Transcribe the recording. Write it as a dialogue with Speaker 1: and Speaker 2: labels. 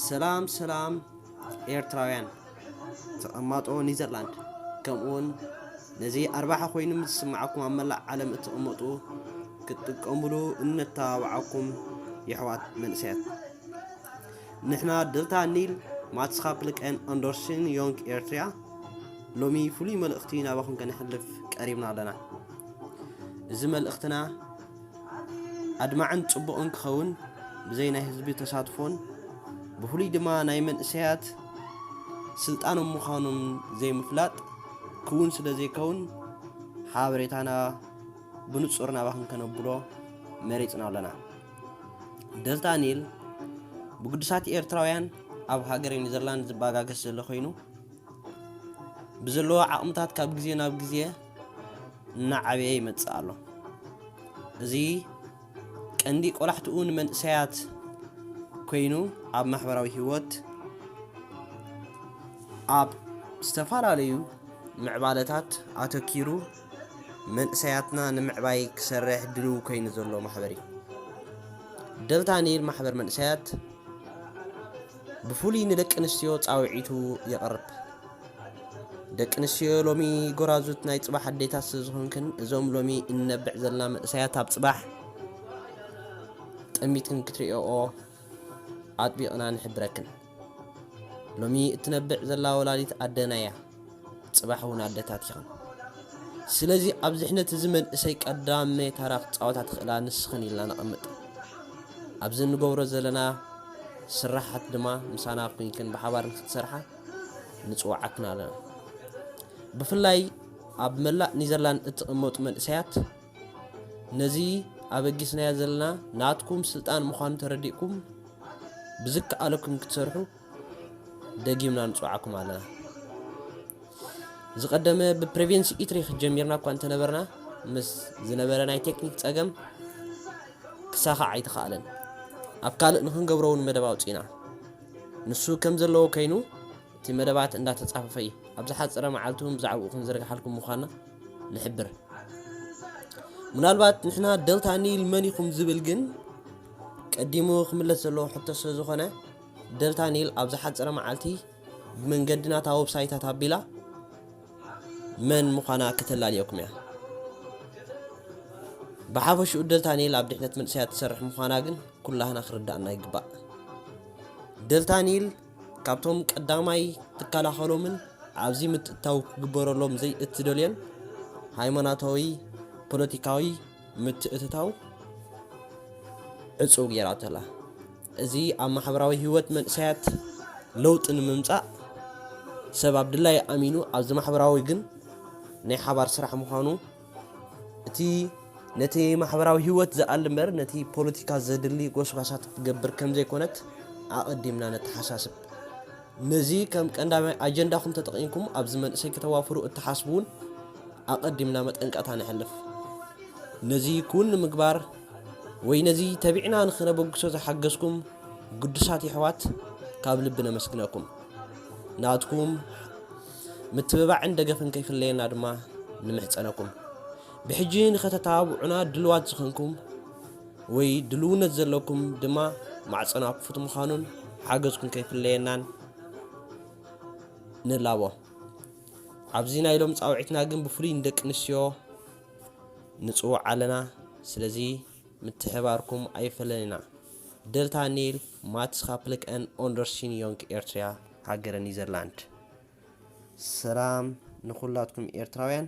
Speaker 1: ሰላም ሰላም ኤርትራውያን ተቐማጦ ኒዘርላንድ ከምኡውን ነዚ ኣርባሓ ኮይኑ ምስ ዝስምዓኩም ኣብ መላእ ዓለም እትቕመጡ ክትጥቀሙሉ እነተባብዓኩም የሕዋት መንእሰያት ንሕና ደልታ ኒል ማትስኻፕልቀን ኣንዶርስን ዮንግ ኤርትርያ ሎሚ ፍሉይ መልእኽቲ ናባኹም ከነሕልፍ ቀሪብና ኣለና እዚ መልእኽትና ኣድማዕን ጽቡቕን ክኸውን ብዘይ ናይ ህዝቢ ተሳትፎን ብፍሉይ ድማ ናይ መንእሰያት ስልጣኖም ምዃኖም ዘይምፍላጥ ክውን ስለ ዘይከውን ሓበሬታና ብንጹር ናባኽን ከነብሎ መሪጽና ኣለና ደልታ ኒል ብግዱሳት ኤርትራውያን ኣብ ሃገር ኔዘርላንድ ዝባጋገስ ዘሎ ኮይኑ ብዘለዎ ዓቕምታት ካብ ግዜ ናብ ግዜ እናዓበየ ይመጽእ ኣሎ። እዚ ቀንዲ ቆላሕትኡ ንመንእሰያት ኮይኑ ኣብ ማሕበራዊ ህይወት ኣብ ዝተፈላለዩ ምዕባለታት ኣተኪሩ መንእሰያትና ንምዕባይ ክሰርሕ ድልው ኮይኑ ዘሎ ማሕበር እዩ። ደልታ ኒል ማሕበር መንእሰያት ብፍሉይ ንደቂ ኣንስትዮ ጻውዒቱ የቕርብ። ደቂ ኣንስትዮ ሎሚ ጎራዙት ናይ ጽባሕ ኣዴታት ስለ ዝኾንክን እዞም ሎሚ እንነብዕ ዘለና መንእሰያት ኣብ ጽባሕ ጠሚትክን ክትርእዮኦ ኣጥቢቕና ንሕብረክን። ሎሚ እትነብዕ ዘላ ወላዲት ኣደና እያ። ጽባሕ ውን ኣደታት ኢኽን ስለዚ ኣብ ዝሕነት እዚ መንእሰይ ቀዳመ ታራ ክጻወታ ትኽእላ ንስኽን ኢልና ነቐምጥ ኣብዚ እንገብሮ ዘለና ስራሓት ድማ ምሳና ኩንክን ብሓባር ንክትሰርሓ ንጽዋዓክን ኣለና ብፍላይ ኣብ መላእ ኒዘርላንድ እትቕመጡ መንእሰያት ነዚ ኣበጊስናዮ ዘለና ናትኩም ስልጣን ምዃኑ ተረዲእኩም ብዝከኣለኩም ክትሰርሑ ደጊምና ንጽውዓኩም ኣለና። ዝቐደመ ብፕሬቬንስ ኢትሪክ ጀሚርና እኳ እንተነበርና ምስ ዝነበረ ናይ ቴክኒክ ጸገም ክሳኻዕ ኣይተኻእለን። ኣብ ካልእ ንክንገብሮ እውን መደብ ኣውፂና ንሱ ከም ዘለዎ ኮይኑ እቲ መደባት እንዳተጻፈፈ እዩ። ኣብ ዝሓፀረ መዓልቲ እውን ብዛዕባኡ ክንዝርግሓልኩም ምዃንና ንሕብር። ምናልባት ንሕና ደልታ ኒል መን ኢኹም ዝብል ግን ቀዲሙ ክምለስ ዘለዎ ሕቶ ስለዝኾነ ደልታ ኒል ኣብ ዝሓጸረ መዓልቲ ብመንገዲ ናታ ወብሳይታት ኣቢላ መን ምዃና ከተላልየኩም እያ። ብሓፈሽኡ ደልታ ኒል ኣብ ድሕነት መንእሰያት ትሰርሕ ምዃና ግን ኩላህና ክርዳእና ይግባእ። ደልታ ኒል ካብቶም ቀዳማይ ትከላኸሎምን ኣብዚ ምትእትታው ክግበረሎም ዘይእትደልዮን ሃይማኖታዊ፣ ፖለቲካዊ፣ ምትእትታው ዕጹው ገይራቶ'ላ። እዚ ኣብ ማሕበራዊ ህይወት መንእሰያት ለውጢ ንምምጻእ ሰብ ኣብ ድላዩ ኣሚኑ ኣብዚ ማሕበራዊ ግን ናይ ሓባር ስራሕ ምዃኑ እቲ ነቲ ማሕበራዊ ህይወት ዝኣሊ እምበር ነቲ ፖለቲካ ዘድሊ ጎስጓሳት ትገብር ከም ዘይኮነት ኣቐዲምና ነተሓሳስብ። ነዚ ከም ቀንዳማይ ኣጀንዳኹም ተጠቒምኩም ኣብዚ መንእሰይ ክተዋፍሩ እትሓስቡ እውን ኣቐዲምና መጠንቀቕታ ነሕልፍ። ነዚ ክውን ንምግባር ወይ ነዚ ተቢዕና ንኽነበግሶ ዝሓገዝኩም ግዱሳት የሕዋት ካብ ልቢ ነመስግነኩም። ናትኩም ምትብባዕን ደገፍን ከይፍለየና ድማ ንምሕጸነኩም። ብሕጂ ንኸተተባብዑና ድልዋት ዝኾንኩም ወይ ድልውነት ዘለኩም ድማ ማዕጸና ክፉት ምዃኑን ሓገዝኩም ከይፍለየናን ንላቦ። ኣብዚ ናይ ሎም ጻውዒትና ግን ብፍሉይ ንደቂ ኣንስትዮ ንጽውዕ ኣለና ስለዚ ምትሕባርኩም ኣይፈለየና። Delta Nil Matskaplik en Ondersin Jonk Ertria ሃገረ ኒዘርላንድ ሰላም ንኹላትኩም ኤርትራውያን።